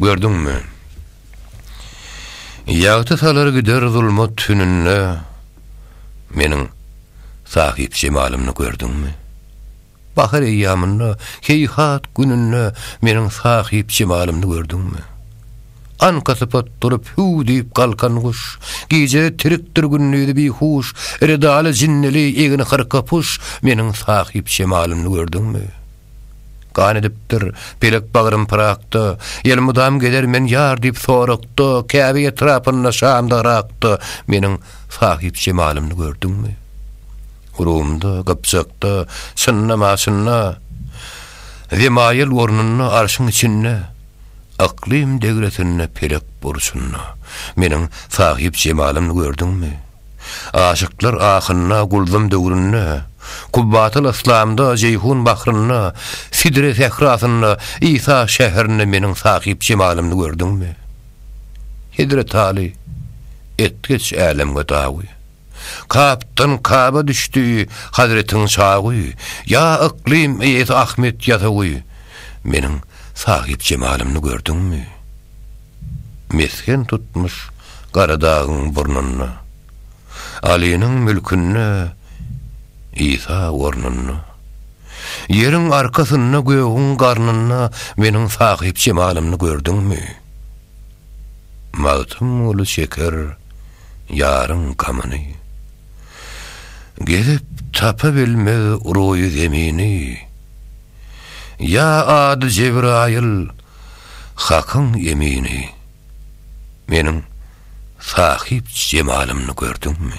Gördüňmi? Ýagty salar gider zulmat tününde Meniň Sahypjemalymny gördüňmi? Bahar eýýamynda, heýhat gününde Meniň Sahypjemalymny gördüňmi? Anka sypat durup hüw diýip galkan guş, Gije tirikdir gündizi bihuş, Redaly jinnili egin hyrka puş, Meniň Sahypjemalymny gördüňmi? Gan edipdir, pelek bagrym pyrakda, Elmydam gezer men ýar diýip sorakda, Käbe etrapynda şamda Yrakda, Meniň sahypjemalymny gördüňmi? Rumda, Gypjakda, Synda, Maşynda, Zemaýyl ornunda, Arşyň içinde, Yklym degresinde, Pelek burçunda, Meniň sahypjemalymny gördüňmi? Aşyklar ahynda Guldam döwründe, Kubbatal yslamda Jeýhun bahrynda, Sidre sährasynda, Isa şäherinde Meniň sahyp jemalymdy gördüňmi? Hezret Aly etgeç älemge dagy, Kapdan Kaba düşdi Hazretiň çagy, Ýa yklym eýesi Ahmet ýasawy, Meniň sahyp jemalymdy gördüňmi? mesgen tutmuş Garadagyň burnunda. Alynyň mülkünde Isa ornunda. Ýeriň arkasynda gögüň garnynda meniň Sahyp jemalymny gördüňmi? Magtymguly çeker ýaryň gamyny. Gezip tapa bilmez ruýy zemini. Ýa ady Jebraýyl Hakyň emini, meniň sahyp jemalymny gördüňmi?